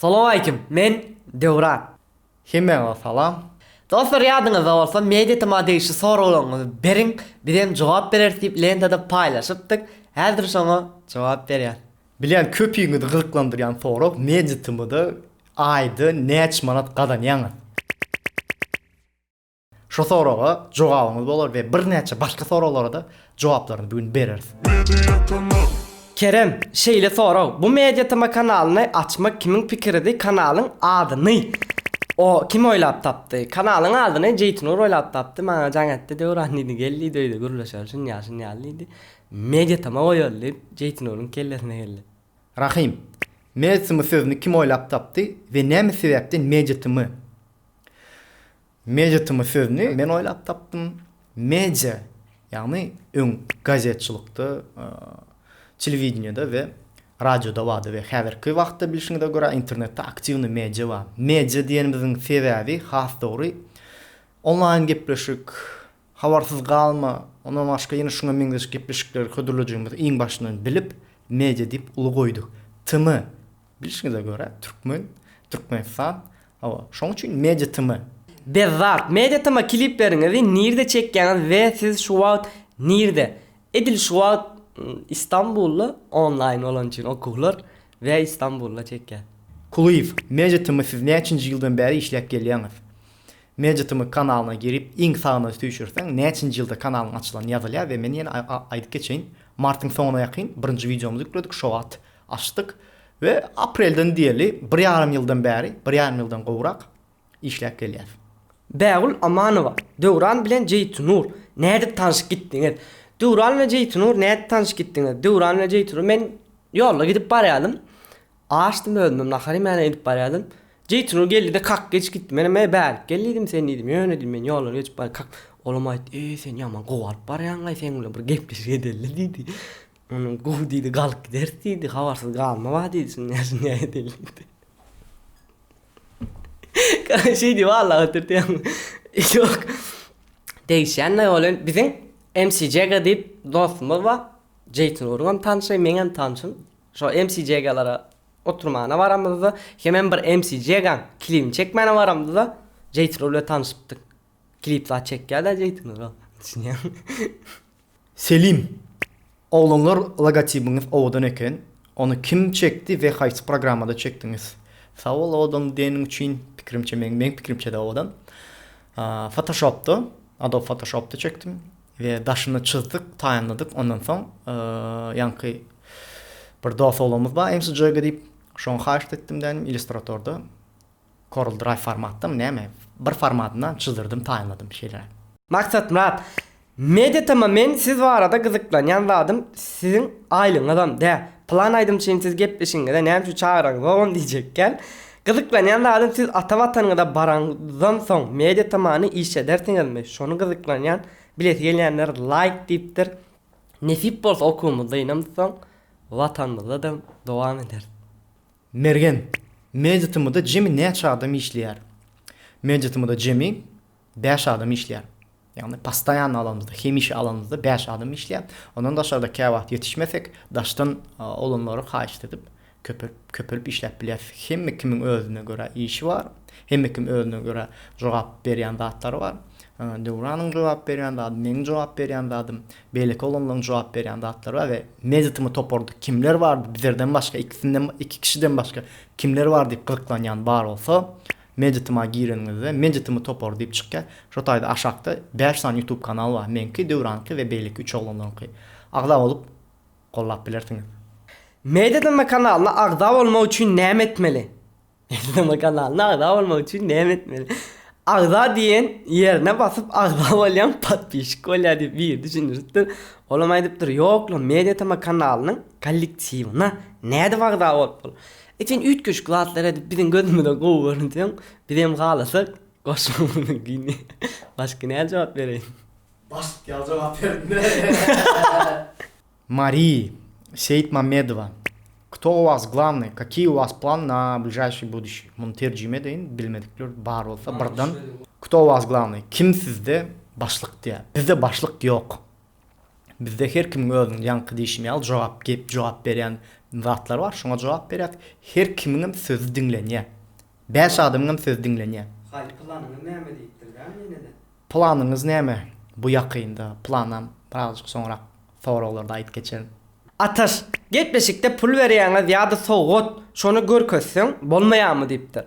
Salowmaleýkim, men Döwran. Hemmäňize salam. Dostlar ýadyňyzda bolsa MediaTm-a degişli soraglaryňyzy beriň, biz hem jogap bereris diýip lentada paýlaşypdyk, häzir şoňa jogap berýäs. Bilýän köpüňizi gyzyklandyrýan sorag MediaTm-da aýda näçe manat gazanýaňyz? Şu soraga jogabyňyz bolar we birnäçe başga soraglara-da jogaplaryny bu gün bereris. Kerem, şeýle sorag, bu Media TM kanalyny açmak kimiň pikiridi kanalyň adyny o kim oýlap tapdy? Kanalyň adyny Jeýtnur oýlap tapdy maňa jaň etdi Döwran diýdi gel diýdi öýde gürleşeli şunýal şunýal diýdi Media TM goýaly diýip Jeýtnuryň kellesine geldi. Rahym, Media TM sözüni kim oýlap tapdy we näme sebäpden Media TM? Mediatma sözüni men oýlap tapdym. Media, ýagny öň gazetçilykda, telewideniýede we radioda bardy we häzirki wagtda bilşiňize görä internetde aktiwnyý media bar. Media diýenimiziň sebäbi has dogry onlaýn gepleşik, habarsyz galma, ondan başga ýene şuňa meňzeş gepleşikleri hödürlejegimizi iň başyndan bilip media diýip uly goýduk. Tma. Bilşiňize görä Türkmen Türkmenistan hawa şoň üçin Media TM. Bezzat Media TM kilipleriňizi nirde çekýäňiz we siz şu wagt nirde? Edil şu wagt Istanbulda onlaýn bolany üçin okuwlar we Istanbulda çekýän. Kulyýew Media TM siz näçinji ýyldan bäri işläp gelýäňiz? Media TM kanalyna girip iň sagyna süýşürseň näçinji ýylda kanalyň açylany ýazylýar we men ýene aýdyp geçeýin martyň soňuna ýakyn birinji wideomyzy ýükledik şo wagt Açdyk we aprelden diýeli bir ýarym ýyldan bäri, bir ýarym ýyldan gowrak işläp gelýäs. Bägül Amanowa, Döwran bilen Jeýtunur nädip tanşyp gitdiňiz? Döwran we Jeýtunur nädip tanşyp gitdiňiz? Döwran we Jeýtunur men ýolda gidip barýardym. Açdym özümem nahar iýmäne gidip barýardym. Jeýtunur geldi-de kak geçip gitdi. Menem eý bärik gel diýdim sen diýdim. Ýöne diýdim men ýoldan geçip barýan kak. Olam aýtdy eý sen ýaman gowy alyp barýaňlaý sen bilen bir gepleşik edeli diýdi. Onuň gowy diýdi, galyp gideris diýdi, habarsyz galma wah diýdi, şindä şindä edeli diýdi. Gara şeý diýip Allah oturtýan. Ýok. Degişýän naý bolan biziň MCJG diýip dostumyz bar. Jeýtin Urgam tanşy, meňem tanşym. Şo MCJG-lere oturmana baramyzda, hemem bir MCJG-niň klibini çekmäne baramyzda Jeýtin Ur bilen tanşypdyk. Klip zat çekýär daýy jeýtiňiz o düşünýäňmi. Selim! Oglanlar logotibiňiz owadan eken, ony kim çekdi we haýsy programmada çekdiňiz? Sag bol owadan diýeniň üçin, pikirimçe meň meň pikirimçede owadan. Fotoshopda, Adobe Photoshopda çekdim we daşyny çyzdyk, taýynladyk, ondan soň ýaňky bir dos oglanymyz bar, MCJG diýip, şoňa haýyşt etdim dänim, illustratorda Corel Drive formatdamy näme? Bir formatyndan çyzdyrydym taýynladym şeýle. Maksatmyrat Mediatm men siz barada gyzyklanýan zadym siziň aýlygyňyzam dä plan aýdym üçin siz gepleşigiňize näme üçin çagyraňyz oglan diýjekkän gyzyklanýan zadym siz ata watanyňyza baraňyzdan soň Mediatmany işledersiňizmi şony gyzyklanýan bilesi gelýänler laýk diýipdir nesip bolsa okuwymyz dynamyzsoň watanymyzdadam dowam ederis. Mergen, Mejlisimizde jemi näçe adam işleýär? Mejlisimizde jemi bäş adam işleýär. Ýagny postoýanny alanymyzda, hemişe alanymyzda bäş adam işleýär. Ondan daşarda käwagt ýetişmesek, daşdan olanlary haýyşt edip, köpelip, köpelip işläp bilýäris. Hemme kimiň özüne görä işi bar. Hemme kim özüne görä jogap berýän zatlary bar. Döwranyň jogap berýän zady, meniň jogap berýän zadym, Beýleki oglanlaryň jogap berýän zatlary bar we mezitymy toparda kimler bardy bizerden başga ikisinden iki kişiden başga kimler bar diýip gyzyklanýan bar bolsa mezityma gireniňizde mezitymy topary diýip çykýar şo taýda aşakda bäş sany ýutub kanal bar meňki döwranyňky we beýleki üç oglanlaryňky agza bolup gollap bilersiňiz. Mezitymy kanalyna agza bolmak üçin näme etmeli? Eslama kanalyna agza bolmak üçin näme etmeli? Agza diýen ýerine basyp agza bolýaň podpişik bolýar diýip biri düşündiripdir. Olam aýdypdyr ýok lan media tm kanalynyň kollektiwine nädip agza bolup bol. Sen üýtgeşik zatlar edip biziň gözümize gowy görünseň bizem halasak goşulmaly gyn başga nädip jogap bereýin. Başyk ýaly jogap beripdir. Mary, Seýitmamedowa, Kto u was glavnyý, kakiý u was plany na bližaýşiý buduşiý? Muny terjime edeýin, bilmedikler bar bolsa birden. Kto u was glavnyý? Kim sizde başlyk diýýär. Bizde başlyk ýok. Bizde her kimiň özüniň ýaňky diýşim ýaly jogap gep jogap berýän zatlary bar. Şoňa jogap berýäs. Her kimiňem sözi diňlenýär. Bäş adamyňam sözi diňlenýä. Haý planyňyz näme diýipdir dämi ýenede. Planyňyz näme bu ýakynda planam birazajyk soňrak soraglarda aýyp geçerin. Ataş, gepleşikde pul berýäňiz ýa-da sowgat, şony görkezseň bolmaýamy diýipdir.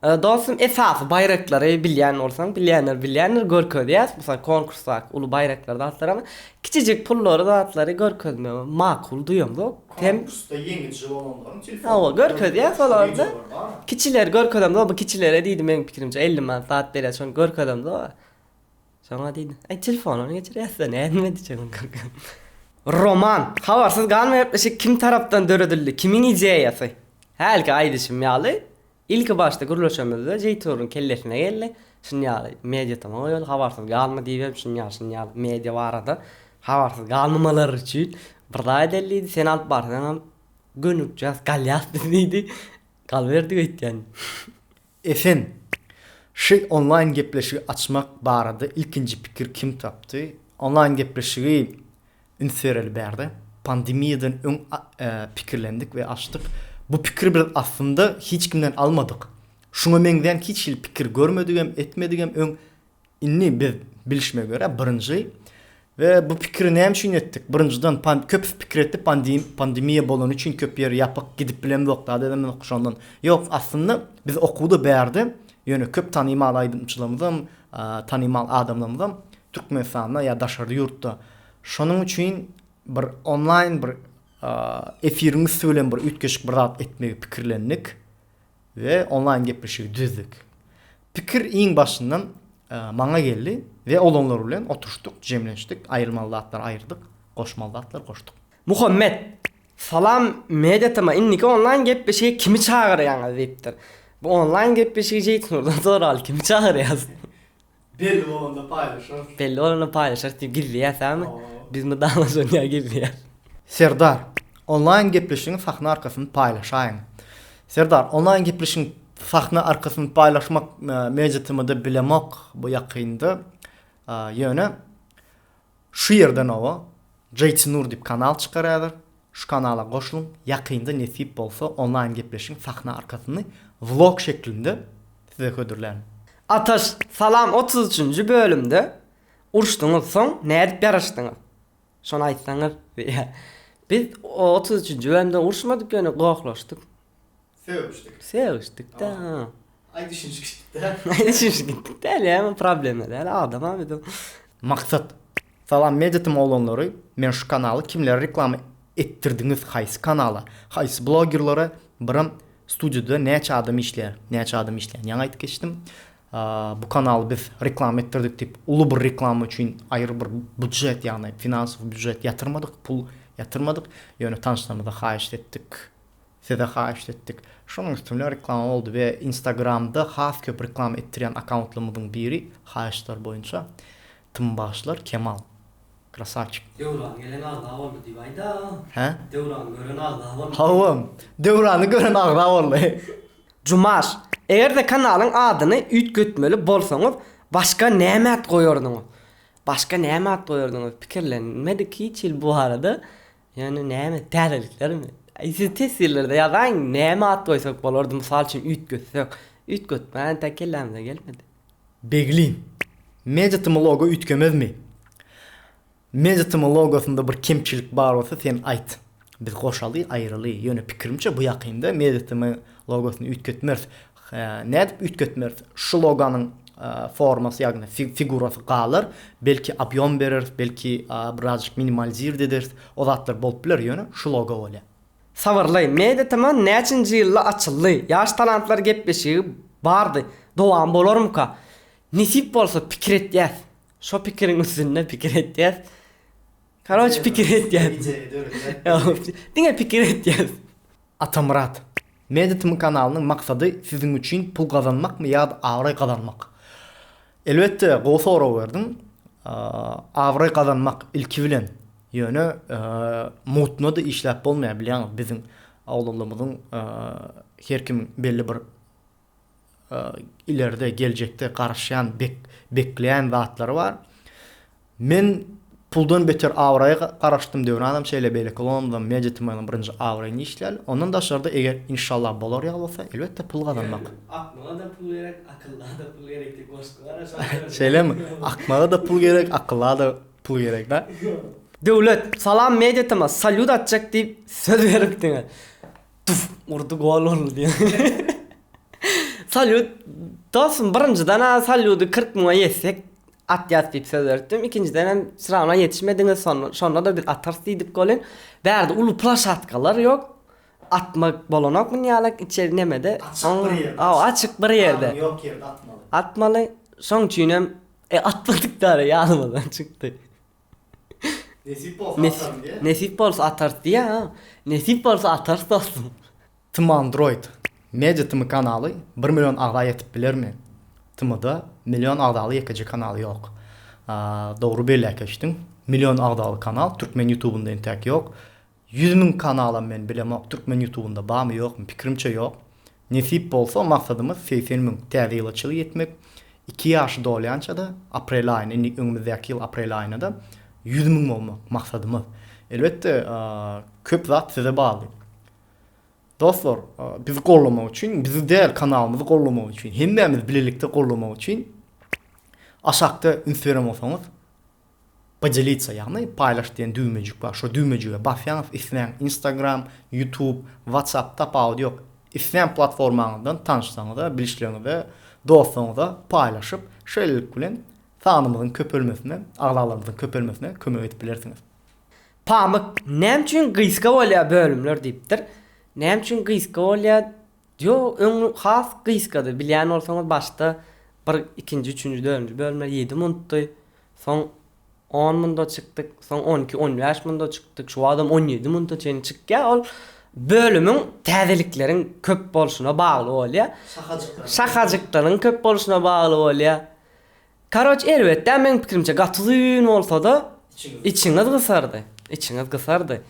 Dostum esasy baýraklary bilýän bolsaň, bilýänler bilýändir görkezýäs, mysal konkursdaky uly baýraklary zatlaramy, Kiçijik pullary zatlary görkezmegi makul duýamzok. Hem Konkursda ýeňiji bolanlaryň telefon Hawa num görkezýär solarda. Wideolar bar. Kiçileri görkezemzok bu kiçilere diýdi meň pikirimçe elli manat zat berýär şony görkezemzok a. Şoňa diýdi. Aý telefonyny geçirýäs-de nädip edijek ony görkezip. Roman. Habarsyz galma gepleşik kim tarapdan döredildi? Kimiň ideýasy? Hälki aýdyşym ýaly. Ilki başda gürleşemizde Jeýturuň kellesine geldi, şuny ýaly media tama goýaly, habarsyz galma diýibem şuny ýaly şuny ýaly media barada habarsyz galmamalary üçin bir zat edeli diýdi, sen alyp barsaňam gönükjäs galýas biz diýdi, galyberdik öýtýän. Esen, şy onlaýn gepleşigi açmak barada ilkinji pikir kim tapdy? Onlaýn gepleşigi Üns bereli bärde pandemiýadan öň pikirlendik we açdyk. Bu pikiri biz aslynda hiç kimden almadyk. Şuňa meňzän hiç hili pikir görmedigem, etmedigem öň indi biz bilişime görä birinji we bu pikiri näme üçin etdik? Birinjiden köpüs pikir etdi pandemiýa bolany üçin köp ýer ýapyk gidip bilemzok zat edemzok şondan. Ýok aslynda biz okuwda bärde ýöne köp tanymal aýdymçylarymyzam, tanymal adamlarymyzam Türkmenistanda ýa daşary ýurtda şonuň üçin bir onlaýn bir efiriň üsti bilen bir üýtgeşik bir zat etmegi pikirlendik we onlaýn gepleşigi düzdük. Pikir iň başyndan maňa geldi we olanlar bilen oturyşdyk, jemlenişdik, aýyrmaly zatlary aýyrdyk, goşmaly zatlary goşduk. Muhammet, Salam Media TM indiki onlaýn gepleşige kimi çagyrýaňyz diýipdir. Bu onlaýn gepleşigi Jeýtnurdan soraly, kimi çagyrýas? Belli bolanda paýlaşarys. Belli bolanda paýlaşarys diýip gizli ýasaňmy? Biz mydama şonýa gizli ýas. Serdar, onlaýn gepleşigiň sahna arkasyny paýlaşaýyň. Serdar, onlaýn gepleşigiň sahna arkasyny paýlaşmak mejtmd bilemok bu ýakynda. Ýöne Şu ýerden oba Jaytinur diýip kanal çykar häzir şu kanala goşluň ýakynda nesip bolsa onlaýn gepleşigiň sahna arkasyny vlog şeklinde size hödürlän. Ataş salam otuz üçünji bölümde uruşdyňyz soň nädip ýaraşdyňyz şony aýtsaňyz biz otuz üçünji bölümde uruşmadyk ýöne gohlaşdyk. Sögüşdik. Sögüşdik-de. Aý düşünişdik-de. Aý düşünişdik däl ýa, bu problema däl, adama biz. Maksat. Salam Meditim oglanlary men şu kanaly kimlere reklama etdirdiňiz haýsy kanala haýsy blogerlere biram studiyada näçe adam işleýär näçe adam işleýän ýaňy aýdyp geçdim bu kanaly biz reklama etdirdik diýip uly bir reklama üçin aýry bir budjet ýagny finansow budjet ýatyrmadyk pul ýatyrmadyk ýöne tanşlarymyza haýyşt etdik Size haýyşt etdik. Şonuň üstünde reklama boldy we instagramda has köp reklama etdirýän akauntlarymyzyň biri haýyştlar boýunça tym bagşylar Kemal. Krasawçik. Döwran gelen agza boldy diýip aýdaň. Hä? Döwrany gören agza boldy. Hawa. Döwrany gören agza boldy. Jumaş, eger-de kanalyň adyny üýtgetmeli bolsaňyz, başga näme at goýardyňyz? Başga näme at goýardyňyz? Pikirlenmedik hiç hili bu barada. Ýöne näme, täzeliklermi? Aý, siz test ýyllarda ýazaň, näme at goýsak bolardy, mysal üçin, üýtgetsek. Üýtgetmä entek kellämize gelmedi. Beglin. Mejitimi logo üýtgemezmi? Mejitimi logosynda bir kemçilik bar bolsa sen aýt. Biz goşaly, aýraly. Ýöne pikirimçe bu ýakynda mejitimi logosyny üýtgetmeris. Hä, nädip üýtgetmeris? Şu loganyň formasy, ýagny figurasy galar, belki obýom bereris, belki birazjyk minimalizird ederis, o zatlar bolup biler, ýöne şu logo bolýar. Sabarly, Media Tman näçinji ýylda açyldy? Ýaş talantlar gepleşigi bardy, dowamy bolarmyka? Nesip bolsa pikir etýäs. Şo pikiriň üstünde pikir etýäs. Karoç pikir etýän. Diňe pikir etýän. Atamyrat. Meditm kanalynyň maksady siziň üçin pul gazanmakmy ýa-da abraý gazanmak? Elbetde gowy sorag berdiň. Abraý gazanmak ilki bilen. Ýöne mutno-da işläp bolmaýar bilýäňiz biziň awlalaymyzyň her kimiň belli bir ileride geljekde garaşýan bekleýän zatlary bar. Men puldan beter abraýa garaşdym Döwranam şeýle beýleki London Media Tmanyň birinji abraýyny işlýäl. Ondan daşarda eger inşallah bolar ýaly bolsa elbetde pul gazanmak. Akmaga-da pul gerek, akylla-da pul gerek diýip goşgy bar a şonda. Şeýlemi? Akmaga-da pul gerek, akylla-da pul gerek da. Döwlet, Salam Media Tma, salýut atjak diýip söz beripdiňiz. Tuf! Urdy gol boldy diýen. Salýut Dostum birinjiden-ä salýudy kyrk müňe ýetsek atýas diýip söz beripdim. Ikinjiden hem srawna ýetişmediňiz şon şonda-da biz atarys diýdik goly. Bärde uly plashatkalar ýok. Atmak bolanok munýalak içeri nemede. Açyk bir ýerde. Hawa açyk bir ýerde. Adam ýok ýerde atmaly. Atmaly. Şoň üçin hem e atmadyk-da ara ýadymyzdan çykdy. Nesip bolsa atarys diýä. Nesip bolsa atarys diýä ha. Nesip bolsa atarys dostum. Tmandroid media tm kanaly bir million agza ýetip bilermi? Tmda million agzaly ýekeje kanal ýok. Dogry belläp geçdiň. Million agzaly kanal türkmen ýutubynda entäk ýok. Ýüz müň kanalam men bilemok türkmen ýutubynda barmy ýokmy pikirimçe ýok. Nesip bolsa maksadymyz segsen müň täze ýyla çyg ýetmek iki ýaşy dolýançada aprel aýyna indi öňümizdäki ýyl aprel aýynada ýüz müň bolmak maksadymyz. Elbetde köp zat size bagly. Dostlar bizi gollamak üçin bizi däl kanalymyzy gollamak üçin hemmämizi bilelikde gollamak üçin aşakda üns beren bolsaňyz Podelitsa ýagny paýlaş diýen düwmejik bar şo düwmejige basýaňyz isleýän instagram, ýutub, watsap tapawudy ýok isleýän platformaňyzdan tanyşlaryňyza, bilişleriňize, dostlaryňyza paýlaşyp şeýlelik bilen sanymyzyň köpelmesine, agzalarymyzyň köpelmesine kömek edip bilersiňiz. Pamyk näme üçin gysga bolýar bölümler diýipdir. Näme üçin gysga bolýar Ýo öň has gysgady bilýän bolsaňyz başda bir ikinji üçünji dördünji bölümler ýedi muntdy soň on munda çykdyk soň on iki on bäş munda çykdyk şu watam on ýedi munta çenli çykýar ol bölümiň täzelikleriň köp bolşuna bagly bolýar şahajyklaryň köp bolşuna bagly bolýar Karoç erbetdä meň pikirimçe gaty uzyn bolsada içiňiz gysardy içiňiz gysardy.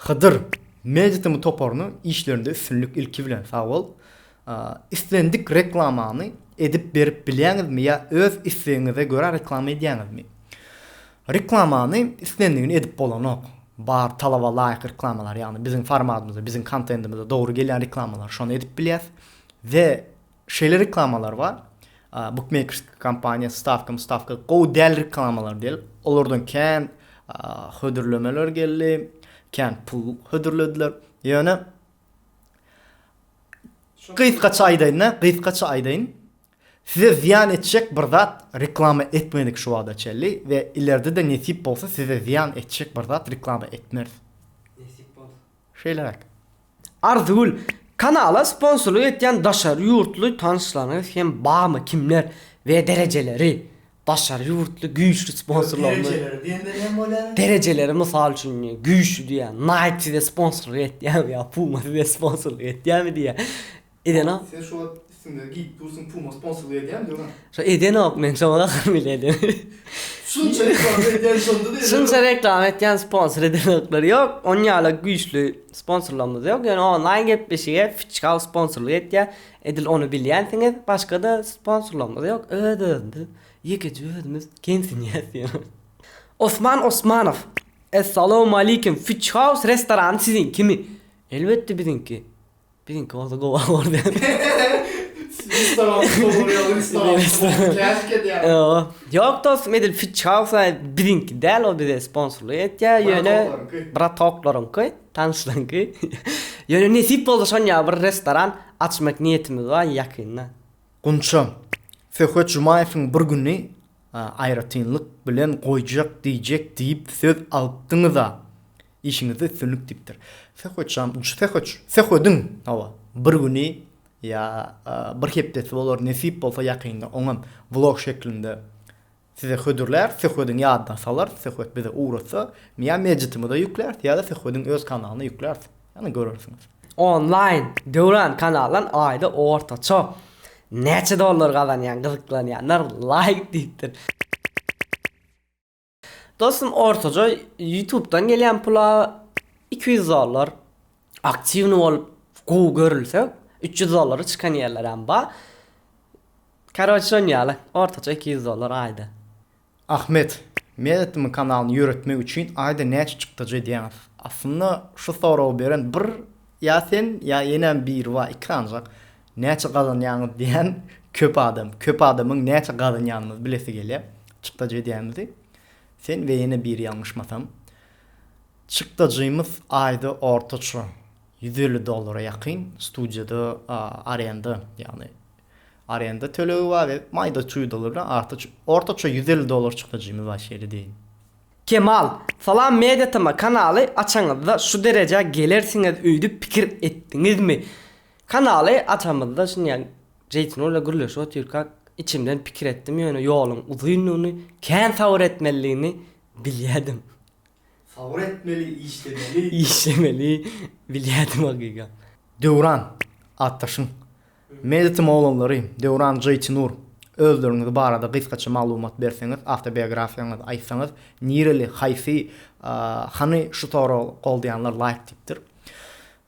Hydyr media tm toparyna işlerinde üstünlik ilki bilen sag bol. Islendik reklamany edip berip bilýäňizmi ýa öz islegiňize görä reklama edýäňizmi? Reklamany islendigini edip bolanok. Bar talaba laýyk reklamalar ýagny biziň formatymyza biziň kontendimize dogry gelýän reklamalar şony edip bilýäs we Şeýle reklamalar bar, bukmeýkersk kompaniýa stawka mustawka gowy däl reklamalar diýlip, olardan kän hödürlemeler geldi, kän pul hödürlediler. Ýöne gysgaça aýdaýyn-da, gysgaça aýdaýyn, size zyýan etjek bir zat reklama etmedik şu wagta çenli we ileride-de nesip bolsa size zyýan etjek bir zat reklama etmeris. Nesip bolsa. Şeýle bert. Arzygül, kanala sponsorlyk etýän daşary ýurtly tanyşlaryňyz hem barmy, kimler we derejeleri? Daşary ýurtly güýçli sponsorlarymyz. Derejeleri diýende näme bolýar? Derejeleri mysal üçin güýçli diýýär. Nike size sponsorlyk etýärmi ýa Puma size sponsorlyk etýärmi diýýär. Edenok. Sen şo wagt üstüňde giyip dursun puma sponsorlyk edýämi döwran. Şo edenok men şo wagt ahyryn bile edemok. Şunça reklama edýän şonda da edenok. Şunça reklama etýän sponsor edenoklar ýok on ýala güýçli sponsorlarymyz ýok ýöne onlaýn gepleşige fitchkal sponsorlyk etýä edil ony bilýänsiňiz başga da sponsorlarymyz ýok öz özümiz ýekeje özümiz gemsinýäs ýöne. Osman Osmanow Essalawmalikim fitchhaus restorany siziňkimi? Elbetde biziňki. Biziňki bolsa gowa bordy. Siz restoranyň stoluny ýa-da restoranyň stoluny keşik edýäňiz. Ýo, ýok dostum edil Fitch House-a biziňki däl ol bize sponsorlyk etýär ýöne Bratoklaryňky. Bratoklaryňky, tanyşlaňky. Ýöne nesip bolsa şon ýaly bir restoran açmak niýetimiz bar ýakynda. Gunçam, Söhbet Jumaýewiň bir güni aýratynlyk bilen goýjak diýjek diýip söz alypdyňyz-a. Işiňizde üstünlik diýipdir. Söhbetjan uç söhbet söhbediň hawa bir güni ýa bir hepdesi bolar nesip bolsa ýakynda oňam vlog şeklinde size hödürläris söhbediň ýadyna salarys söhbet bize ugratsa ýa medjitimize ýükläris ýa-da söhbediň öz kanalyna ýükläris ýa-da görersiňiz. Onlaýn Döwran kanaldan aýda ortaça näçe dollar gazanýaň gyzyklanýanlar laýk diýipdir. Dostum ortaja ýutubdan gelýän pula iki ýüz dollar aktiwny bolup gowy görülse üç ýüz dollara çykan ýerlerem bar karoç şon ýaly ortaja iki ýüz dollar aýda. Ahmet. Medetim kanalyny ýöretmek üçin aýda näçe çykdajy edýäňiz? Aslynda şu soragy beren bir ýa sen ýa enäm biri bar iki ancak Näçe gazanýaňyz diýen köp adam. Köp adamyň näçe gazanýanymyzy bilesi gelýär. Çykdajy edýämizi. Sen we ýene biri ýalňyşmasam. Çykdajymyz aýda ortaça ýüz elli dollara ýakyn. Studiýada arenda, ýagny arenda tölegi bar we maýda çuýdalar bilen artaç ortaça ýüz elli dollar çykdajymyz bar şeýle diýeýin. Kemal, Salam Media TM kanaly açaňyzda şu derejä gelersiňiz öýdüp pikir etdiňizmi? Kanaly açamyzda şindi ýa Jeýtuna bilen gürleşip otyrkak içimden pikir etdim ýöne ýoluň uzyndygyny kän sabyr etmelidigini bilýädim. Sabyr etmeli işlemeli. Işlemeli bilýädim hakyka. Döwran atdaşyň Medetim oglanlary Döwran Jeýtinur özleriňiz barada gysgaça maglumat berseňiz awtobiografiýaňyzy aýtsaňyz nireli haýsy hany şu sorag goldaýanlar laýk diýipdir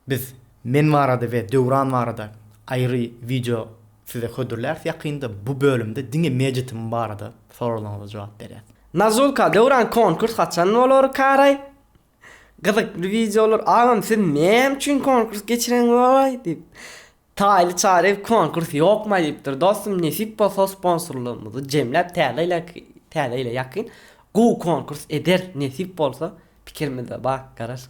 Biz men barada we Döwran barada aýry wideo size hödürläris ýakynda bu bölümde diňe Mejitim barada soraglaryňyza jogap berýäs. Nazulka Döwran konkurs haçan bolar karaý? Gyzykly wideolar agam siz näme üçin konkurs geçireňiz walaý diýip. Taýly çary konkurs ýokmy aýdypdyr dostum nesip bolsa sponsorlarymyzy jemläp täze ýyla täze ýyla ýakyn gowy konkurs ederis nesip bolsa pikirimiz-de bar garaz.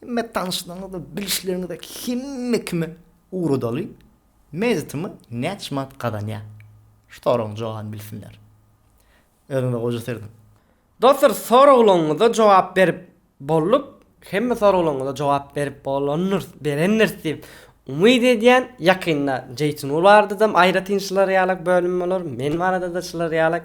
Hemme tanyşlaryňyza, bilişleriňize, hemme kime ugradaly mezitimi näçe manat gazanýar? Şu soragyň jogabyny bilsinler. Özüňize goja serediň. Dostlar soraglaňyza jogap berip bolduk. Hemme soraglaňyza jogap berip bolandyr, berendiris diýip umyt edýän. Ýakynda Jeýtinur barada-da aýratyn şylar ýalak bölüm bolar, men barada-da şylar ýalak